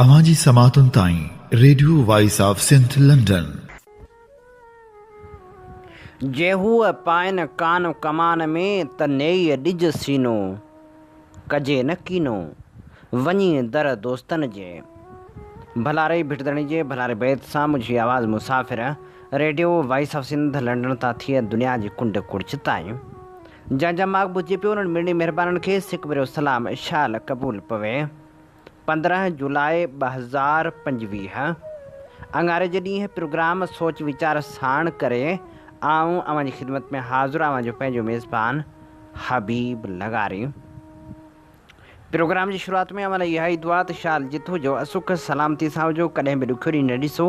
اوهان جي سماعتن تائين radio voice of Sindh London. جي هوء پائن ڪان ڪمان ۾، ته نيئي ڏج سينو، ڪجي نه ڪينو، وڃي در دوستن جي. ڀلاري ڀٽدڙي جي ڀلاري بيت سان منهنجي آواز مسافر radio voice of Sindh London تان ٿئي دنيا جي ڪنڊ ڪڙڇ تائين جنهن جا ماڳ ٻڌجي پيو انهن مڙني مهربانن کي سڪ ڀريو سلام اشال قبول پوي پندرهن جولاء ٻه هزار پنجويهه اڱاري جي ڏينهن پروگرام سوچ ويچار ساڻ ڪري آئون اوهان جي خدمت ۾ حاضر اوهان جو پنهنجو ميزبان حبيب لغاري پروگرام جي شروعات ۾ اوهان لاء اها ئي دعا ته شال جت هجو اسک سلامتي سان هجو ڪڏهن به ڏکيو ڏينهن نه ڏسو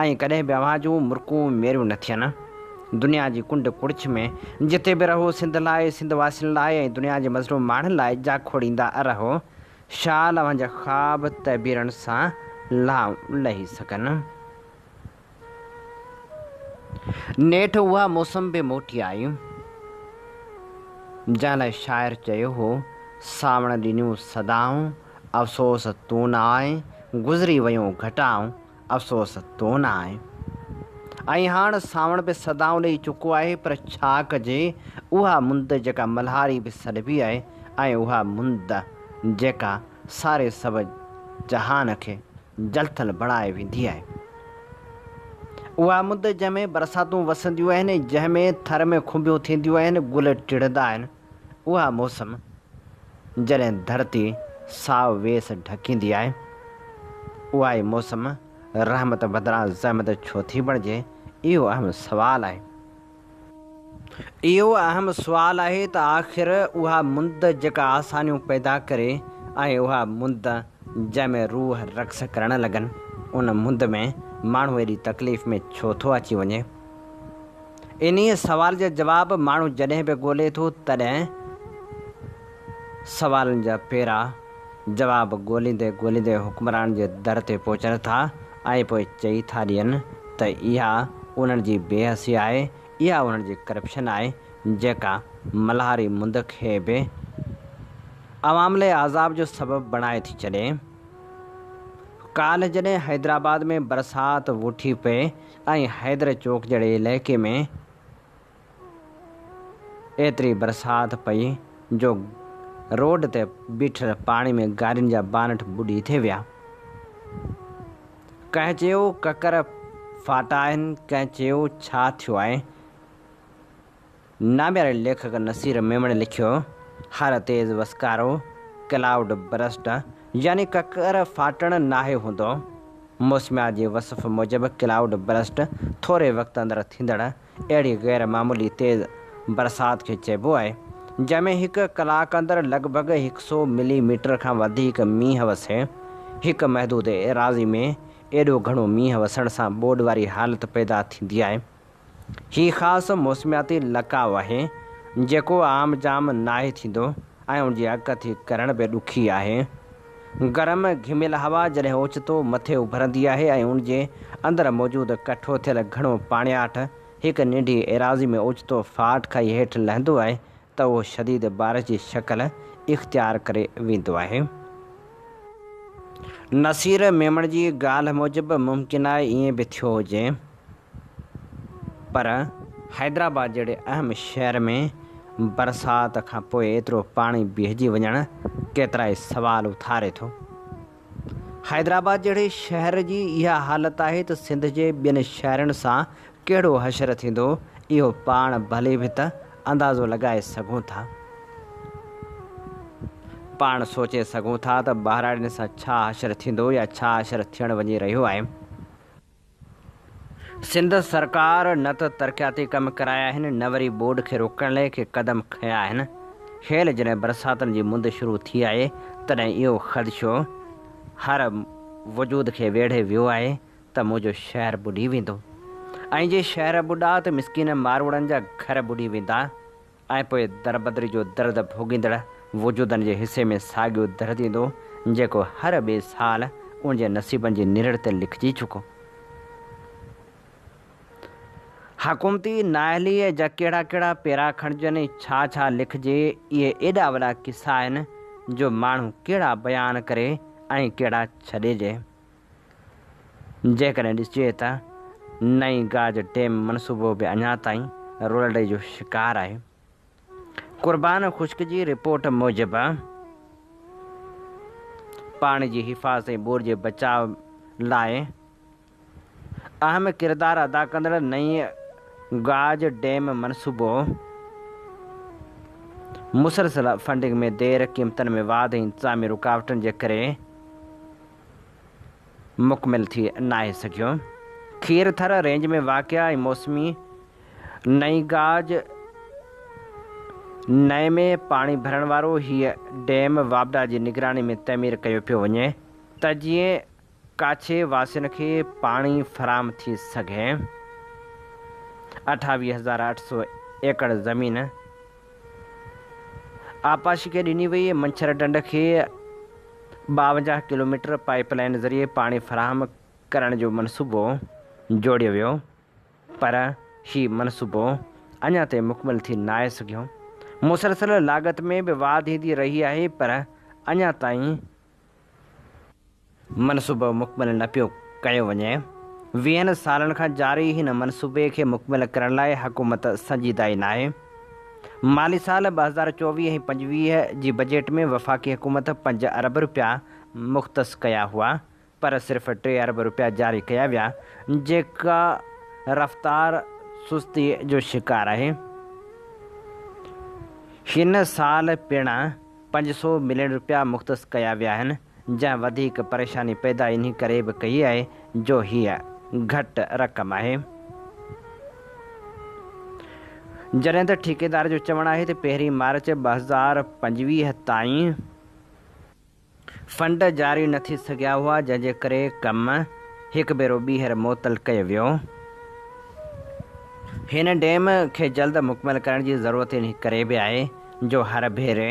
۽ ڪڏهن به اوهان جون مرڪون ميريون نه ٿين دنيا جي ڪنڊ ڪڙڇ ۾ جتي به رهو سنڌ لاء سنڌ واسين لاء ۽ دنيا جي مظلوم ماڻهن لاء جاکوڙيندا رهو شال اوهان جا خواب تعبيرن سان لهي سگهن. نيٺ اها موسم به موٽي آئي، جنهن لاء شاعر چيو هو، ساوڻ ڏنيون سدائون، افسوس تون نه آئين، گذري ويون گهٽائون، افسوس تون نه آهين. ۽ هاڻ سانوڻ به سدائون ڏيئي چڪو آهي، پر ڇا ڪجي، اها مند جيڪا ملهاري به سڏبي آهي ۽ اها مند جيڪا ساري سڀ جهان کي جلٿل بڻائي ويندي آهي. اها مند جنهن ۾ برساتون وسنديون آهن، جنهن ۾ ٿر ۾ کنڀيون ٿينديون آهن، گل ٽڙندا آهن. اها موسم جڏهن ڌرتي سائو ويس ڍڪيندي آهي، اها ئي موسم رحمت بدران زحمت ڇو ٿي بڻجي، اهو اهم سوال آهي. اهو اهم سوال آهي ته آخر اها مند جيڪا آسانيون پيدا ڪري ۽ اها مند جنهن ۾ روح رقص ڪرڻ لڳن، ان مند ۾ ماڻهو ايڏي تڪليف ۾ ڇو ٿو اچي وڃي؟ انهيء سوال جا جواب ماڻهو جڏهن به ڳولي ٿو تڏهن سوالن جا پيرا جواب ڳوليندي ڳوليندي حڪمران جي در تي پهچن ٿا ۽ پوء چئي ٿا ڏين ته اها انهن جي بي حسي آهي، اها انهن جي ڪرپشن آهي جيڪا ملهاري مند کي به عوام لئي عذاب جو سبب بڻائي ٿي ڇڏي. ڪالهه جڏهن حيدرآباد ۾ برسات وٺي پئي ۽ حيدر چوڪ جهڙي علائقي ۾ ايتري برسات پئي جو روڊ تي بيٺل پاڻي ۾ گاڏين جا بانٽ ٻڏي ٿي ويا. ڪنهن چيو ڪڪر ڦاٽا آهن، ڪنهن چيو ڇا ٿيو آهي. نامياري ليکڪ نصير ميمڻي لکيو، هر تيز وسڪارو، ڪلائوڊ برسٽ، يعني ڪڪر ڦاٽڻ ناهي هوندو. موسميات جي وصف موجب ڪلائوڊ برسٽ ٿوري وقت اندر ٿيندڙ اهڙي غير معمولي تيز برسات کي چئبو آهي، جنهن ۾ هڪ ڪلاڪ اندر لڳ ڀڳ هڪ سو ملي ميٽر کان وڌيڪ مينهن وسي. هڪ محدود ايراضي ۾ ايڏو گهڻو مينهن وسڻ سان ٻوڏ واري حالت پيدا ٿيندي آهي. هي خاص موسمياتي لقاء آهي، جيڪو عام جام ناهي ٿيندو ۽ ان جي اڳڪٿي ڪرڻ به ڏکي آهي. گرم گهميل هوا جڏهن اوچتو مٿي اڀرندي آهي ۽ ان جي اندر موجود ڪٺو ٿيل گهڻو پاڻياٺ هڪ ننڍي ايراضي ۾ اوچتو ڦاٽ کائي هيٺ لهندو آهي ته اهو شديد بارش جي شڪل اختيار ڪري ويندو آهي. نصير ميمڻ جي ڳالهه موجب ممڪن آهي ائين به ٿيو هجي. پر حيدرآباد جهڙي اهم شهر ۾ برسات کان پوء ايترو پاڻي بيهجي وڃڻ ڪيترائي سوال اٿاري ٿو. حيدرآباد جهڙي شهر جي اها حالت آهي ته سنڌ جي ٻين شهرن سان ڪهڙو حشر ٿيندو اهو پاڻ ڀلي به ته اندازو لڳائي سگهون ٿا. پاڻ سوچي سگهون ٿا ته ٻهراڙين سان ڇا حشر ٿيندو يا ڇا حشر ٿيڻ وڃي رهيو آهي. سنڌ سرڪار نه ته ترقياتي ڪم ڪرايا آهن نه وري ٻوڏ کي روڪڻ لئه ڪي قدم کنيا آهن. هيل جڏهن برساتن جي مند شروع ٿي آهي تڏهن اهو خدشو هر وجود کي ويڙهي ويو آهي ته منهنجو شهر ٻڏي ويندو ۽ جي شهر ٻڏا ته مسڪين ماروئڙن جا گهر ٻڏي ويندا ۽ پوء دربدري جو درد ڀوڳيندڙ وجودن جي حصي ۾ ساڳيو درد ايندو، جيڪو هر ٻئي سال ان جي نصيبن جي نرڙ تي لکجي چڪو. حڪومتي نااهليء جا ڪهڙا ڪهڙا پيرا کڻجن ۽ ڇا ڇا لکجي، اهي ايڏا وڏا قصا آهن، جو ماڻهو ڪهڙا بيان ڪري ۽ ڪهڙا ڇڏيجي. جيڪڏهن ڏسجي ته نئين گاج ڊيم منصوبو به اڃا تائين رولڙي جو شڪار آهي. قربان خشڪ جي رپورٽ موجب پاڻي جي حفاظت ۽ ٻوڏ جي بچاء لاء اهم ڪردار ادا ڪندڙ نئين گاج ڊيم منصوبو مسلسل فنڊنگ ۾ دير، قيمتن ۾ واڌ ۽ انتظامي رڪاوٽن جي ڪري، مڪمل ٿي ناهي سگهيو. کير ٿر رينج ۾ واقع ۽ موسمي نئين گاج نئين ۾ پاڻي ڀرڻ وارو هيء ڊيم واپڊا جي نگراني ۾ تعمير ڪيو پيو وڃي ته جيئن ڪاڇي واسين کي پاڻي فراهم ٿي سگهي. اٺاويهه هزار اٺ سؤ ايڪڙ زمين آبپاشي کي ڏني وئي منڇر ڍنڍ کي ٻاونجاهه ڪلوميٽر پائيپ لائين ذريعي پاڻي فراهم ڪرڻ جو منصوبو جوڙيو ويو پر هي منصوبو اڃا تائين مڪمل ٿي ناهي سگهيو مسلسل لاڳت ۾ به واڌ ايندي رهي آهي پر اڃا تائين منصوبو مڪمل نه پيو ڪيو وڃي، ويهن سالن کان جاري هن منصوبي کي مڪمل ڪرڻ لاء حڪومت سنجيده ئي ناهي، مالي سال ٻه هزار چوويهه ۽ پنجويهه جي بجيٽ ۾ وفاقي حڪومت پنج ارب رپيا مختص ڪيا هئا پر صرف ٽي ارب رپيا جاري ڪيا ويا جيڪا رفتار سستي جو شڪار آهي، هن سال پڻ. پنج سؤ ملين رپيا مختص ڪيا ويا آهن جنهن وڌيڪ پريشاني پيدا انهي ڪري به ڪئي آهي جو هيء گهٽ رقم آهي جڏهن ته ٺيڪيدار جو چوڻ آهي ته پهرين مارچ ٻه هزار پنجويهه تائين فنڊ جاري نه ٿي سگهيا هئا جنهن جي ڪري ڪم هڪ ڀيرو ٻيهر معطل ڪيو ويو هن ڊيم کي جلد مڪمل ڪرڻ جي ضرورت انهي ڪري به آهي. جو هر ڀيري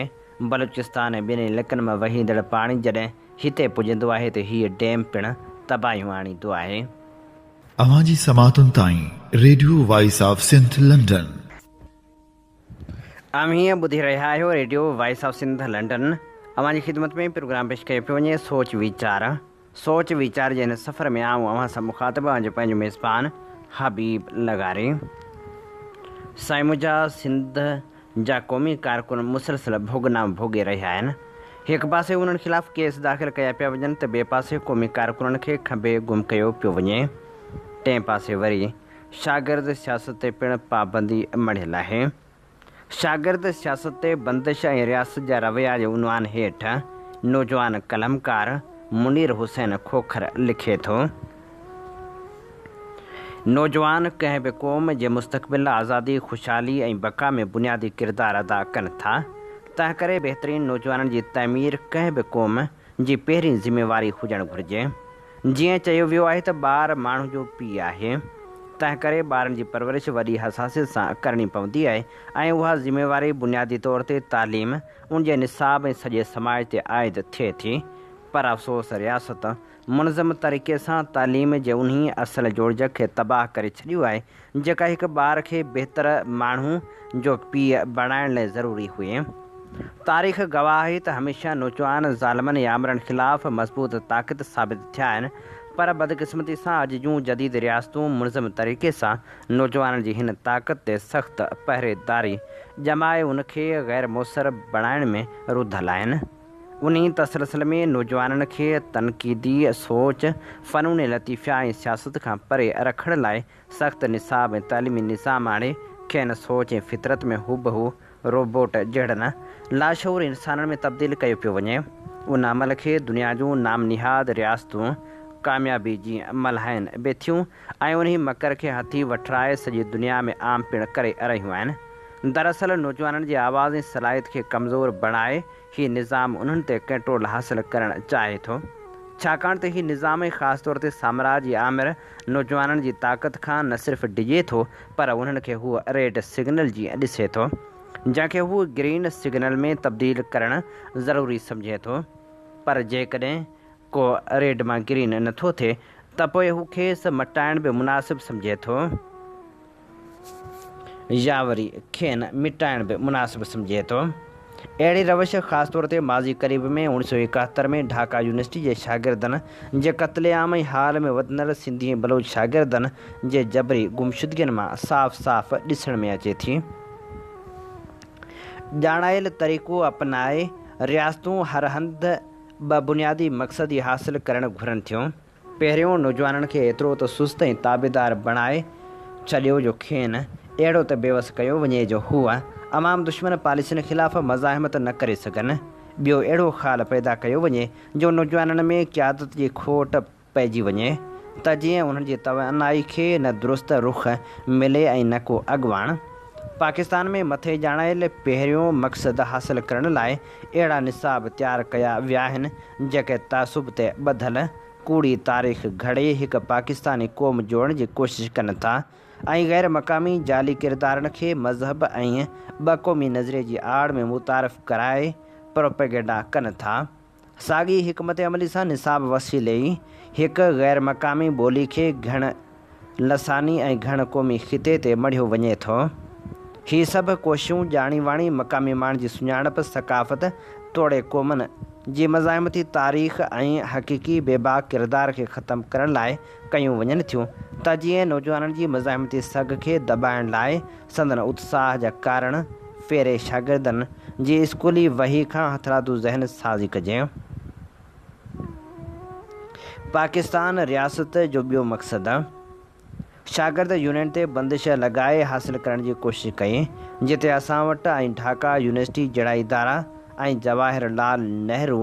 بلوچستان ۽ ٻنهي لڪن مان وهيندڙ پاڻي جڏهن هتي پڄندو آهي ته هيء ڊيم پڻ تباهيون آڻيندو آهي. اوهان جي سماعتن تائين radio voice of Sindh London. اوهين ٻڌي رهيا آهيو radio voice of Sindh London. اوهان جي خدمت ۾ پروگرام پيش ڪيو پيو وڃي سوچ ويچار. سوچ ويچار جي هن سفر ۾ آئون اوهان سان مخاطب آهيان جو پنهنجو ميزبان حبيب لغاري سائين منهنجا سنڌ جا قومي ڪارڪن مسلسل ڀوڳ نام ڀوڳي رهيا آهن هڪ پاسي انهن خلاف ڪيس داخل ڪيا پيا وڃن ته ٻئي پاسي قومي ڪارڪنن کي کنڀي گم ڪيو پيو وڃي ٽئين پاسي وري شاگرد سياست تي پڻ پابندي مڙهيل آهي شاگرد سياست تي بندش ۽ رياست جا رويا جي عنوان هيٺ نوجوان قلمڪار منير حسين کوکر لکي ٿو، نوجوان ڪنهن به قوم جي مستقبل، آزادي، خوشحالي ۽ بقا ۾ بنيادي ڪردار ادا ڪن ٿا، تنهنڪري بهترين نوجوانن جي تعمير ڪنهن به قوم ۽ جي پهرين ذميواري هجڻ گهرجي. جيئن چيو ويو آهي ته ٻار ماڻهو جو پيء آهي، تنهنڪري ٻارن جي پرورش وڏي حساسيت سان ڪرڻي پوندي آهي ۽ اها ذميواري بنيادي طور تي تعليم، ان جي نصاب ۽ سڄي سماج تي عائد ٿئي ٿي. پر افسوس رياست منظم طريقي سان تعليم جي انهي اصل جوڙجڪ کي تباهه ڪري ڇڏيو آهي جيڪا هڪ ٻار کي بهتر ماڻهو جو پيء بڻائڻ لاء ضروري هئي. تاريخ گواهه آهي ته هميشه نوجوان ظالمن يا آمرن خلاف مضبوط طاقت ثابت ٿيا آهن، پر بدقسمتي سان اڄ جون جديد رياستون ملزم طريقي سان نوجوانن جي هن طاقت تي سخت پهريداري ڄمائي ان کي غير موثر بڻائڻ ۾ رڌل آهن. انهي تسلسل ۾ نوجوانن کي تنقيدي سوچ، فنون لطيفه ۽ سياست کان پري رکڻ لاء سخت نصاب ۽ تعليمي نظام آڻي کين سوچ ۽ فطرت ۾ هوبهو روبوٽ جهڙن لاشعوري انسانن ۾ تبديل ڪيو پيو وڃي. ان عمل کي دنيا جون نام نهاد رياستون ڪاميابي جي ملهائين به ٿيون ۽ انهي مڪر کي هٿي وٺرائي سڄي دنيا ۾ عام پڻ ڪري رهيون آهن. دراصل نوجوانن جي آواز ۽ صلاحيت کي ڪمزور بڻائي هي نظام انهن تي ڪنٽرول حاصل ڪرڻ چاهي ٿو، ڇاڪاڻ ته هي نظام ۽ خاص طور تي سامراجي آمر نوجوانن جي طاقت کان نه صرف ڊڄي ٿو پر انهن کي هو ريڊ سگنل جيئن ڏسي ٿو، جنهن کي هو گرين سگنل ۾ تبديل ڪرڻ ضروري سمجهي ٿو پر جيڪڏهن ڪو ريڊ مان گرين نٿو ٿئي ته پوء هو کيس مٽائڻ به مناسب سمجهي ٿو. يا وري کين مٽائڻ به مناسب سمجهي ٿو. اهڙي روش خاص طور تي ماضي قريب ۾ اوڻ سؤ ايڪاهتر ۾ ڍاڪا يونيورسٽي جي شاگردن جي قتل عام ۽ حال ۾ وڌندڙ سنڌي ۽ بلوچ شاگردن جي جبري گمشدگين مان صاف صاف ڏسڻ ۾ اچي ٿي. ڄاڻايل طريقو اپنائي رياستون هر هنڌ ٻه بنيادي مقصد ئي حاصل ڪرڻ گهرن ٿيون. پهريون نوجوانن کي ايترو ته سست ۽ تابعدار بڻائي ڇڏيو جو کين اهڙو ته بيوس ڪيو وڃي جو هو عوام دشمن پاليسين خلاف مزاحمت نه ڪري سگهن، ٻيو اهڙو خال پيدا ڪيو وڃي جو نوجوانن ۾ قيادت جي کوٽ پئجي وڃي ته جيئن انهن جي توانائي کي نه درست رخ ملي ۽ نه ڪو اڳواڻ پاڪستان ۾ مٿي ڄاڻايل پهريون مقصد حاصل ڪرڻ لاء اهڙا نصاب تيار ڪيا وياهن جيڪي تعصب تي ٻڌل ڪوڙي تاريخ گهڙي هڪ پاڪستاني قوم جوڙڻ جي ڪوشش ڪن ٿا ۽ غير مقامي جعلي ڪردارن کي مذهب ۽ ٻه قومي نظريي جي آڙ ۾ متعارف ڪرائي پروپيگنڊا ڪن ٿا ساڳي حڪمت عملي سان نصاب وسيلي هڪ غير مقامي ٻولي کي گهڻ لساني ۽ گهڻ قومي خطي تي مڙهيو وڃي ٿو. هي سڀ ڪوششون ڄاڻي واڻي مقامي ماڻهن جي سڃاڻپ، ثقافت توڙي قومن جي مزاحمتي تاريخ ۽ حقيقي بي باڪ ڪردار کي ختم ڪرڻ لاء ڪيون وڃن ٿيون ته جيئن نوجوانن جي مزاحمتي سگهه کي دٻائڻ لاء سندن اتساهه جا ڪارڻ ڦيري شاگردن جي اسڪولي وهي کان هٿرادو ذهن سازي ڪجي. پاڪستان رياست جو ٻيو مقصد شاگرد يونين تي بندش لڳائي حاصل ڪرڻ جي ڪوشش ڪئي جتي اسان وٽ ۽ ڍاڪا يونيورسٽي جهڙا ادارا ۽ جواهر لال نهرو،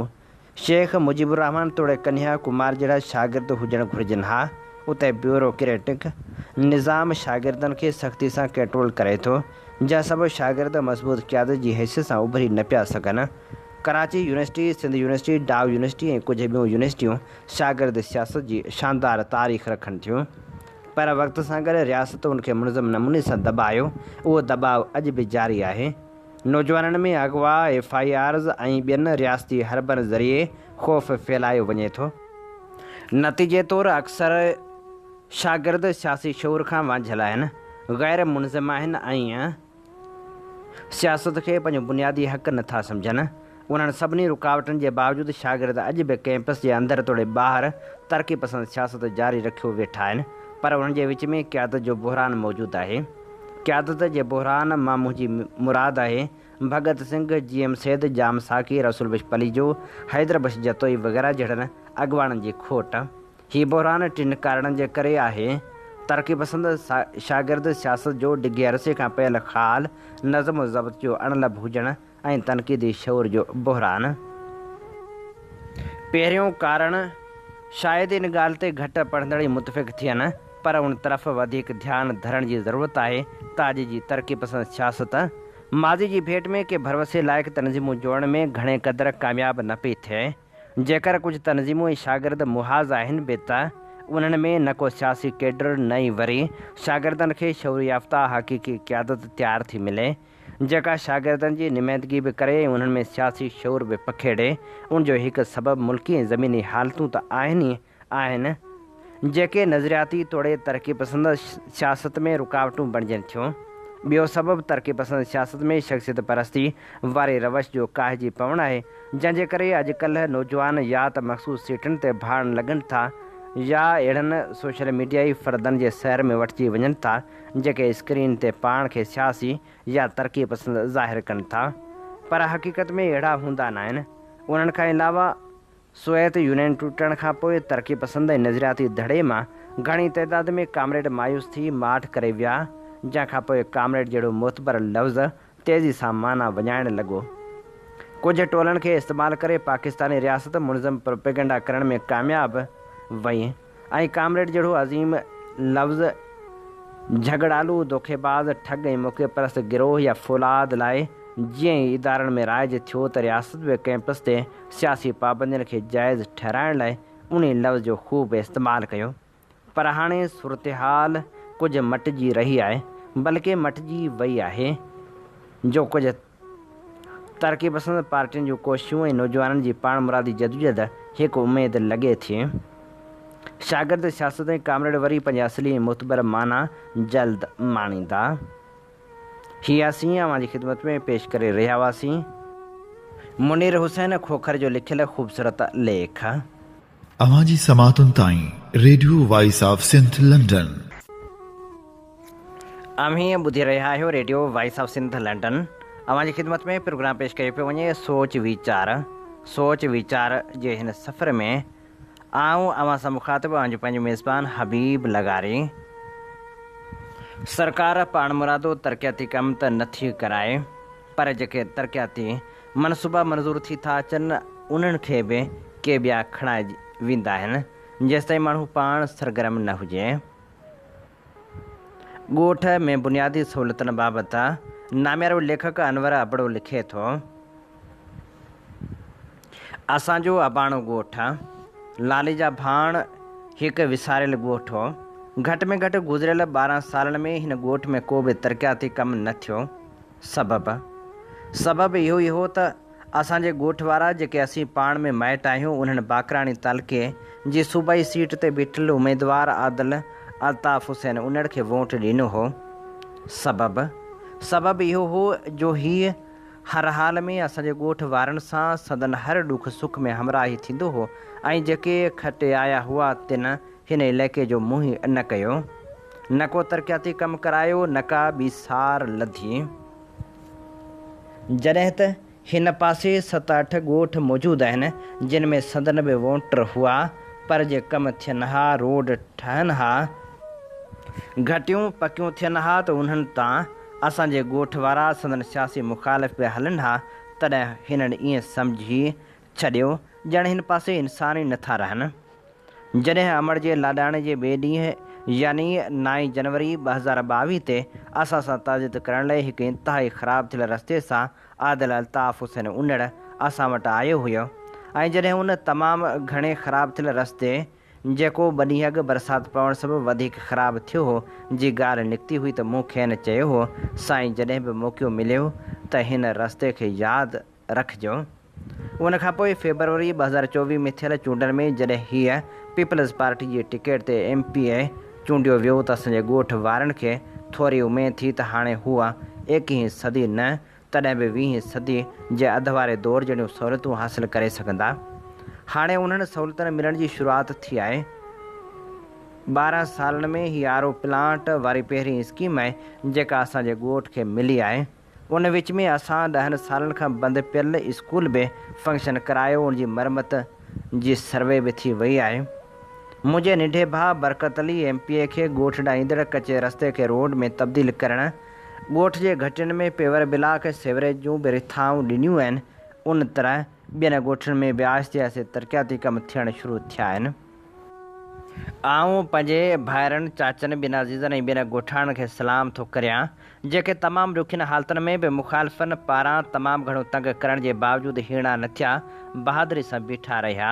شيخ مجيب الرحمان توڙي ڪنهيا ڪمار جهڙا شاگرد هجڻ گهرجن ها اتي بيورو ڪريٽڪ نظام شاگردن کي سختي سان ڪنٽرول ڪري ٿو جنهن سبب شاگرد مضبوط قيادت جي حيثيت سان اڀري نه پيا سگهن. Karachi university, Sindh university, Dow university ۽ ڪجهه ٻيون يونيورسٽيون شاگرد سياست جي شاندار تاريخ رکن ٿيون پر وقت سان گڏ رياست ان کي منظم نموني سان دٻايو، اهو دٻاء اڄ به جاري آهي. نوجوانن ۾ اغوا، ايف آء آرز ۽ ٻين رياستي حربن ذريعي خوف ڦهلايو وڃي ٿو. نتيجي طور اڪثر شاگرد سياسي شعور کان وانجهيل آهن، غير منظم آهن ۽ سياست کي پنهنجو بنيادي حق نه ٿا سمجهن. انهن سڀني رڪاوٽن جي باوجود شاگرد اڄ به ڪئمپس جي اندر توڙي ٻاهر ترقي پسند سياست جاري رکيو ويٺا آهن پر انهن جي وچ ۾ قيادت جو بحران موجود آهي. قيادت جي بحران مان منهنجي مراد آهي ڀڳت سنگهه، جي ايم سيد، ڄام ساقي، رسول بخش پليجو، حيدر بخش جتوئي وغيره جهڙن اڳواڻن جي کوٽ. هي بحران ٽن ڪارڻن جي ڪري آهي، ترقي پسند شاگرد سياست جو ڊگهي عرصي کان پيل خال، نظم و ضبط جو اڻ لڀ هجڻ ۽ تنقيدي شعور جو بحران. پهريون ڪارڻ، شايد ان ڳالهه تي گهٽ پڙهندڙ ئي متفق ٿين، پر ان طرف وڌيڪ ڌيان ڌرڻ جي ضرورت آهي ته اڄ جي ترقي پسند سياست، ماضي جي ڀيٽ ۾ ڪي ڀروسي لائق تنظيمون جوڙڻ ۾ گهڻي قدر ڪامياب نه پئي ٿئي. جيڪر ڪجهه تنظيمون ۽ شاگرد محاذ آهن به ته انهن ۾ نه ڪو سياسي ڪيڊر نه ئي وري شاگردن کي شعور يافته حقيقي قيادت تيار ٿي ملي جيڪا شاگردن جي نمائندگي به ڪري ۽ انهن ۾ سياسي شعور به پکيڙي ان جو هڪ سبب ملڪي ۽ زميني حالتون ته آهن ئي آهن، جيڪي نظرياتي توڙي ترقي پسند سياست ۾ رڪاوٽون بڻجن ٿيون. ٻيو سبب ترقي پسند سياست ۾ شخصيت پرستي واري روش جو ڪاهجي پوڻ آهي، جنهن جي ڪري اڄڪلهه نوجوان يا ته مخصوص سيٽن تي ڀاڙڻ لڳن ٿا يا اهڙن سوشل ميڊيائي فردن جي سير ۾ وٺجي وڃن ٿا، جيڪي اسڪرين تي پاڻ کي سياسي يا ترقي پسند ظاهر ڪن ٿا، پر حقيقت ۾ اهڙا هوندا ناهن. انهن کان علاوه سوويت يونين ٽٽڻ کان پوء ترقي پسند ۽ نظرياتي ڌڙي مان گهڻي تعداد ۾ ڪامريڊ مايوس ٿي ماٺ ڪري ويا، جنهن کان پوء ڪامريڊ جهڙو معتبر لفظ تيزي سان معنيٰ وڃائڻ لڳو. ڪجهه ٽولن کي استعمال ڪري پاڪستاني رياست منظم پروپيگنڊا ڪرڻ ۾ ڪامياب وئي. ۽ ڪامريڊ جهڙو عظيم لفظ جهڳڙالو، دوکيباز، ٺڳ ۽ موقعي پرست گروهه يا فولاد لاء جيئن ئي ادارن ۾ رائج ٿيو ته رياست به ڪئمپس تي سياسي پابندين کي جائز ٺهرائڻ لاء انهي لفظ جو خوب استعمال ڪيو پر هاڻي صورتحال ڪجهه مٽجي رهي آهي بلڪه مٽجي وئي آهي جو ڪجهه ترقي پسند پارٽين جون ڪوششون ۽ نوجوانن جي پاڻمرادي جدوجهد هڪ اميد لڳي ٿي. شاگرد سياست ۽ ڪامريڊ وري پنهنجي اصلي ۽ معتبر معنيٰ جلد ماڻيندا. هي اسين اوهان جي خدمت ۾ پيش ڪري رهيا هئاسين. منير حسين کوکر جو لکيل خوبصورت ليک. اوهان جي سماعتن تائين radio voice of Sindh London. اوهين ٻڌي رهيا آهيو radio voice of Sindh London اوهان جي خدمت ۾ پروگرام پيش ڪيو پيو وڃي سوچ ويچار سوچ ويچار جي هن سفر ۾ آئون اوهان سان مخاطب اوهان جو پنهنجو ميزبان حبيب لغاري سرڪار پاڻمرادو ترقياتي ڪم ته نٿي ڪرائي پر جيڪي ترقياتي منصوبا منظور ٿي ٿا اچن انهن کي به ڪي ٻيا کڻائي ويندا آهن جيستائين ماڻهو پاڻ سرگرم نه هجي. ڳوٺ ۾ بنيادي سهولتن بابت ناميارو ليکڪ انور ابڙو لکي ٿو، اسان جو اباڻو ڳوٺ، لالي جا ڀاڻ، هڪ وساريل ڳوٺ هو. گهٽ ۾ گهٽ گذريل ٻارهن سالن ۾ هن ڳوٺ ۾ ڪو به ترقياتي ڪم نه ٿيو. سبب؟ سبب اهو ئي هو ته اسان جي ڳوٺ وارا جيڪي اسين پاڻ ۾ مائٽ آهيون انهن باقراڻي تعلقي جي صوبائي سيٽ تي بيٺل اميدوار عادل الطاف حسين انڙ کي ووٽ ڏنو هو. سبب؟ سبب اهو هو جو هيء هر حال ۾ اسان جي ڳوٺ وارن سان سندن هر ڏک سک ۾ همراهي ٿيندو هو ۽ جيڪي کٽي آيا هئا تن هن علائقي جو منهن نه ڪيو، نه ڪو ترقياتي ڪم ڪرايو، نه ڪا ٻي سار لڌي. جڏهن ته هن پاسي ست اٺ ڳوٺ موجود آهن، جن ۾ سندن به ووٽر هئا، پر جي ڪم ٿين ها، روڊ ٺهن ها، گهٽيون پڪيون ٿين ها ته انهن تان اسان جي ڳوٺ وارا، سندن سياسي مخالف به هلن ها، تڏهن هنن ائين سمجهي ڇڏيو، ڄڻ هن پاسي انسان ئي نٿا رهن. جڏهن امڙ جي لاڏاڻي جي ٻئي ڏينهن يعني نائين جنوري ٻه هزار ٻاويهه تي اسان سان تعزيت ڪرڻ لاء هڪ انتهائي خراب ٿيل رستي سان عادل الطاف حسين انڙ اسان وٽ آيو هيو ۽ جڏهن ان تمام گهڻي خراب ٿيل رستي جيڪو ٻه ڏينهن اڳ برسات پوڻ سبب وڌيڪ خراب ٿيو هو جي ڳالهه نڪتي هئي ته مون کين چيو هو سائين جڏهن به موقعو مليو ته هن رستي کي ياد رکجو. ان کان پوء فيبروري ٻه هزار چوويهه ۾ ٿيل چونڊن ۾ جڏهن هيء پيپلز پارٽي جي ٽڪيٽ تي ايم پي اي چونڊيو ويو ته اسان جي ڳوٺ وارن کي ٿوري اميد ٿي ته هاڻي هوء ايڪيهين صدي نه تڏهن به ويهين صدي جي اڌ واري دور جهڙيون سهولتون حاصل ڪري سگهندا. هاڻي انهن سهولتن ملڻ جي شروعات ٿي آهي. ٻارهن سالن ۾ هي آر او پلانٽ واري پهرين اسڪيم آهي جيڪا اسان جي ڳوٺ کي ملي آهي. ان وچ ۾ اسان ڏهن سالن کان بند پيل اسڪول به فنڪشن ڪرايو ان جي مرمت جي سروي به ٿي وئي آهي منهنجي ننڍي ڀاء Barkat Ali M P A کي ڳوٺ ڏانهن ايندڙ ڪچي رستي کي روڊ ۾ تبديل ڪرڻ ڳوٺ جي گهٽين ۾ پيور بلاڪ سيوريج جون به رٿائون ڏنيون آهن ان طرح ٻين ڳوٺن ۾ به آهستي آهستي ترقياتي ڪم ٿيڻ شروع ٿيا آهن. آئون پنهنجي ڀائرن، چاچن، ٻين عزيزن ۽ ٻين ڳوٺاڻن کي سلام ٿو ڪريان، جيڪي تمام ڏکين حالتن ۾ به مخالفن پاران تمام گهڻو تنگ ڪرڻ جي باوجود هيڻا نه ٿيا، بهادري سان بيٺا رهيا.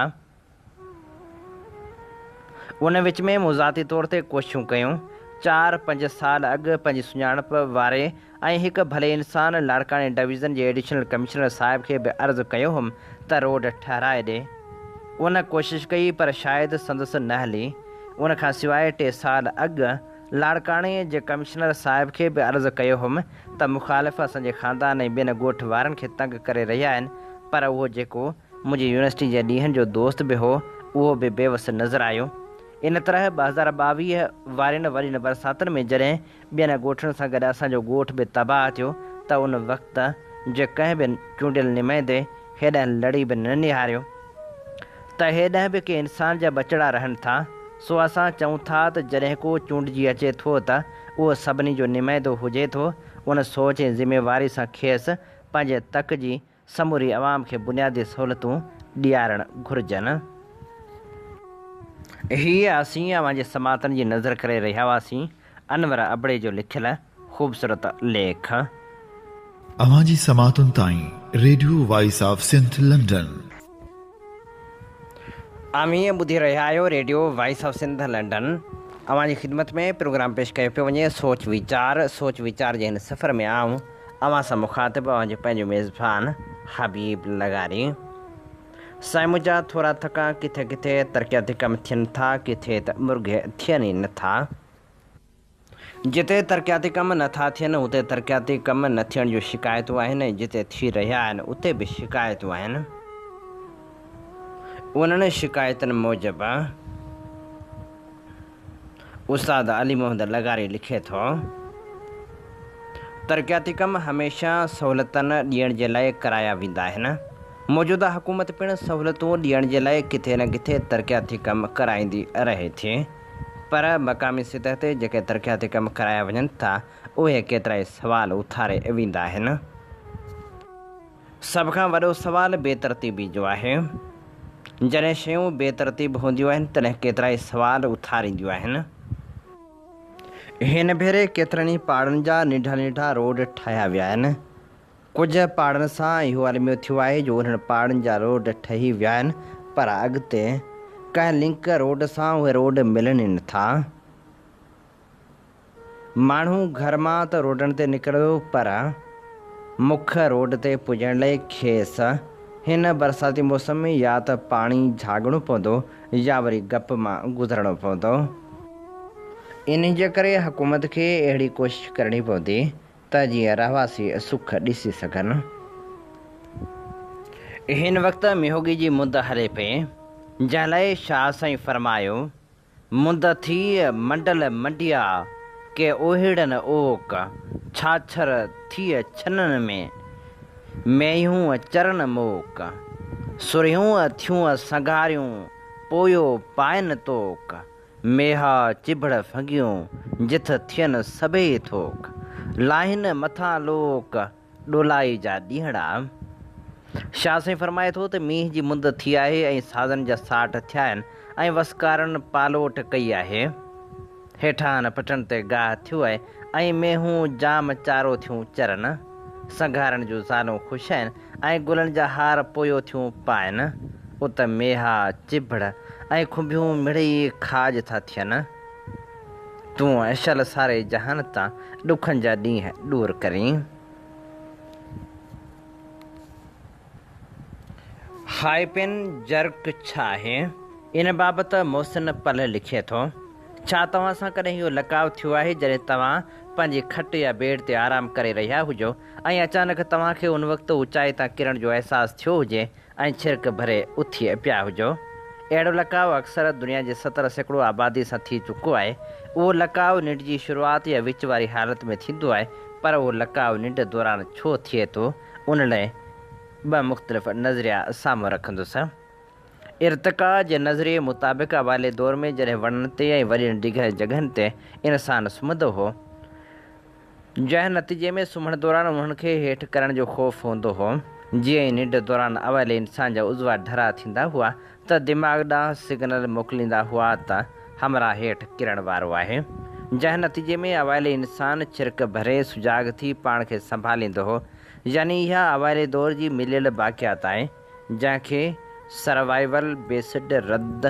ان وچ ۾ مون ذاتي طور تي ڪوششون ڪيون. چار پنج سال اڳ پنهنجي سڃاڻپ واري ۽ هڪ ڀلي انسان لاڙڪاڻي ڊويزن جي ايڊيشنل ڪمشنر صاحب کي به عرض ڪيو هوم ته روڊ ٺهرائي ڏي. ان ڪوشش ڪئي پر شايد سندس نه هلي. ان کان سواء ٽي سال اڳ لاڙڪاڻي جي ڪمشنر صاحب کي به عرض ڪيو هوم ته مخالف اسان جي خاندان ۽ ٻين ڳوٺ وارن کي تنگ ڪري رهيا آهن پر اهو جيڪو منهنجي يونيورسٽي جي ڏينهن جو دوست به هو، اهو به بيوس نظر آيو. ان طرح ٻه هزار ٻاويهه وارين وڏين برساتن ۾ جڏهن ٻين ڳوٺن سان گڏ اسان جو ڳوٺ به تباهه ٿيو ته ان وقت جي ڪنهن به چونڊيل نمائندي هيڏانهن لڙي به نه نهاريو ته هيڏانهن به ڪي انسان جا ٻچڙا رهن ٿا، سو اسان چئون ٿا ته جڏهن ڪو چونڊجي اچي ٿو ته اهو سڀني جو نمائندو هجي ٿو، ان سوچ ۽ ذميواري سان کيس پنهنجي تڪ جي سموري عوام کي بنيادي سهولتون ڏيارڻ گهرجن. هيء اسين اوهان جي سماعتن جي نذر ڪري رهيا هئاسين. انور ابڙي جو لکيل خوبصورت ليک. اوهان جي سماعتن تائين radio voice of Sindh London. اوهين ٻڌي رهيا آهيو radio voice of Sindh London اوهان جي خدمت ۾ پروگرام پيش ڪيو پيو وڃي سوچ ويچار سوچ ويچار جي هن سفر ۾ آئون اوهان سان مخاطب اوهان جو پنهنجو ميزبان حبيب لغاري سائين منهنجا ٿورا ٿڪا ڪٿي ڪٿي ترقياتي ڪم ٿين ٿا ڪٿي ته مرگهي ٿين ئي نه ٿا جتي ترقياتي ڪم نه ٿا ٿين اتي ترقياتي ڪم نه ٿيڻ جون شڪايتون آهن ۽ جتي ٿي رهيا آهن اتي به شڪايتون آهن. انهن شڪايتن موجب استاد علي محمد لغاري لکي ٿو، ترقياتي ڪم هميشه سهولتن ڏيڻ جي لاء ڪرايا ويندا آهن. موجوده حڪومت پڻ سهولتون ڏيڻ جي لاء ڪٿي نه ڪٿي ترقياتي ڪم ڪرائيندي رهي ٿي. پر مقامي سطح تي جيڪي ترقياتي ڪم ڪرايا وڃن ٿا اهي ڪيترائي سوال اٿاري ويندا آهن. سڀ کان وڏو سوال بي ترتيبي جو آهي. جڏهن شيون بي ترتيب هونديون آهن تڏهن ڪيترائي سوال اٿارينديون آهن. هن ڀيري ڪيترن ئي پاڙن جا ننڍا ننڍا روڊ ٺاهيا ويا آهن. ڪجهه پاڙن سان اهو الميو ٿيو آهي جو انهن پاڙن جا روڊ ٺهي ويا آهن پر اڳتي ڪنهن لنڪ روڊ سان اهي روڊ ملن ئي نه ٿا. ماڻهو گهر مان ته روڊن تي نڪرندو پر مک روڊ تي پڄڻ لئي کيس هن برساتي موسم ۾ يا ته پاڻي جهاڳڻو پوندو يا وري گپ مان گذرڻو پوندو. انهيء جي ڪري حڪومت کي اهڙي ڪوشش ڪرڻي پوندي ته جيئن رهواسي سک ڏسي سگهن. هن وقت ميهوڳي جي مند هلي پئي، جنهن لاء شاهه سائين فرمايو، مند ٿي منڊل منڊيا ڪي اوهيڙن اوڪ، ڇاڇر ٿيء ڇنن ۾، مينهيون چرن موڪ، سرهيون ٿيون سنگهاريون پويو پائن توڪ، ميها چڀڙ ڦنگيون جٿ ٿين سڀيئي ٿوڪ. لاهين مٿان لوڪ ڏولائي جا ڏينهڙا. شاهه سائين فرمائي ٿو ته مينهن جي مند ٿي آهي ۽ سازن جا ساٺ ٿيا آهن ۽ وسڪارن پالوٽ ڪئي آهي. هيٺان پٽن تي گاهه ٿيو آهي ۽ مينهون جام چارو ٿيون چرن. سنگهارن جون زالون خوش آهن. ۽ گلن جا هار پويو ٿيون پائن، ات ميها، چڀڙ ۽ کنڀيون مڙئي کاڄ ٿا ٿين. تون اشل ساري جهان تان ڏکن جا ڏينهن ڏور ڪرين. هائپين جرڪ ڇا آهي؟ ان بابت محسن پلهه لکي ٿو، ڇا توهان سان ڪڏهن اهو لقاء ٿيو آهي جڏهن توهان پنهنجي کٽ يا بيڊ تي آرام ڪري رهيا هجو ۽ اچانڪ توهان کي ان وقت اوچائي تان ڪرڻ جو احساس ٿيو هجي ۽ ڇرڪ ڀري اٿي پيا هجو. اهڙو لقاء اڪثر دنيا جي ستر سيڪڙو آبادي سان ٿي چڪو آهي. اهو لقاء ننڊ جي شروعات يا وچ واري حالت ۾ ٿيندو آهي، پر اهو لقاء ننڊ دوران ڇو ٿئي ٿو، ان لاء ٻه مختلف نظريا سامهون رکندس. ارتقا جي نظريي مطابق اوائلي دور ۾ جڏهن وڻن تي ۽ وڏين ڊگهين جڳهن تي انسان سمهندو هو، جنهن نتيجي ۾ سمهڻ دوران انهن کي هيٺ ڪرڻ جو خوف هوندو هو. جيئن ئي ننڊ دوران اوائلي انسان جا عضوا ڍرا ٿيندا هئا ته دماغ ڏانهن سگنل موڪليندا هئا ته همراهه هيٺ ڪرڻ وارو آهي. جنهن نتيجي ۾ اوائلي انسان ڇرڪ ڀري سجاڳ ٿي پاڻ کي سنڀاليندو هو. يعني اها اوائلي دور جي مليل باقيات آهي. جنهن کي سروائيول بيسڊ رد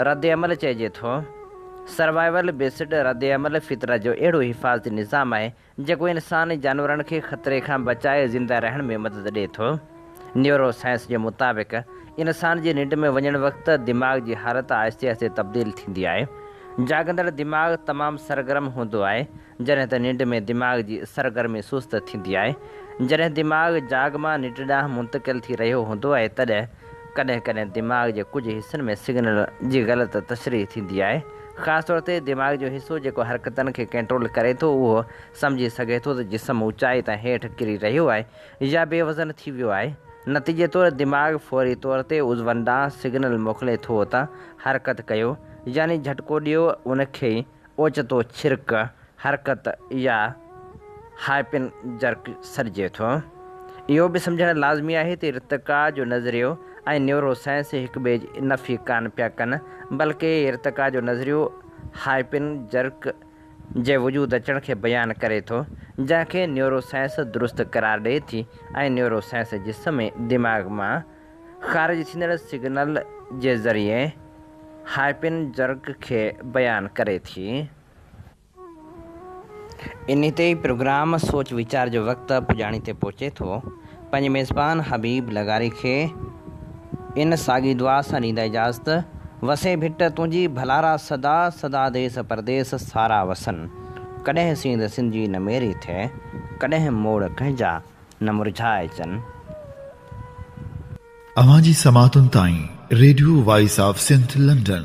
ردعمل چئجي ٿو. سروائيول بيسڊ ردعمل فطرت جو اهڙو حفاظتي نظام آهي، جيڪو انسان ۽ جانورن کي خطري کان بچائي زنده رهڻ ۾ مدد ڏئي ٿو. نيورو سائنس جي مطابق انسان جي ننڊ ۾ وڃڻ وقت دماغ جي حالت آهستي آهستي تبديل ٿيندي آهي. جاڳندڙ دماغ تمام سرگرم هوندو آهي، جڏهن ته ننڊ ۾ دماغ جي سرگرمي سست ٿيندي آهي. جڏهن دماغ جاڳ مان ننڊ ڏانهن منتقل ٿي رهيو هوندو آهي تڏهن ڪڏهن ڪڏهن دماغ جي ڪجهه حصن ۾ سگنل جي غلط تشريح ٿيندي آهي. خاص طور تي دماغ جو حصو جيڪو حرڪتن کي ڪنٽرول ڪري ٿو اهو سمجهي سگهي ٿو ته جسم اوچائي تان هيٺ ڪري رهيو آهي يا بي وزن ٿي ويو آهي. نتيجي طور دماغ فوري طور تي عضون ڏانهن سگنل موڪلي ٿو ته حرڪت ڪيو يعني جهٽڪو ڏيو ان کي. اوچتو ڇرڪ حرڪت يا هائپن جرڪ سڏجي ٿو. اهو به سمجهڻ لازمي آهي ته ارتقا جو نظريو ۽ نيورو سائنس هڪ ٻئي جي نفي ڪانه پيا ڪن، بلڪه ارتقا جو نظريو هائپن جرڪ جي وجود اچڻ کي بيان ڪري ٿو، جنهن کي نيورو سائنس درست قرار ڏئي ٿي ۽ نيورو سائنس جسم ۽ دماغ مان خارج ٿيندڙ سگنل جي ذريعي هائپن جرڪ کي بيان ڪري ٿي. انهي تي ئي پروگرام سوچ ويچار جو وقت پڄاڻي تي پهچي ٿو. پنهنجي ميزبان حبيب لغاري کي ان ساڳي دعا سان ڏيندي اجازت، وسين ڀٽ تنهنجي ڀلارا سدا سدا ديس پرديس سارا وسن، ڪڏهن سينڌ سنڌ جي نه ميري ٿئي، ڪڏهن موڙ ڪنهنجا. نه مرجهائي اچن. اوهان جي سماعتن تائين radio voice of Sindh London.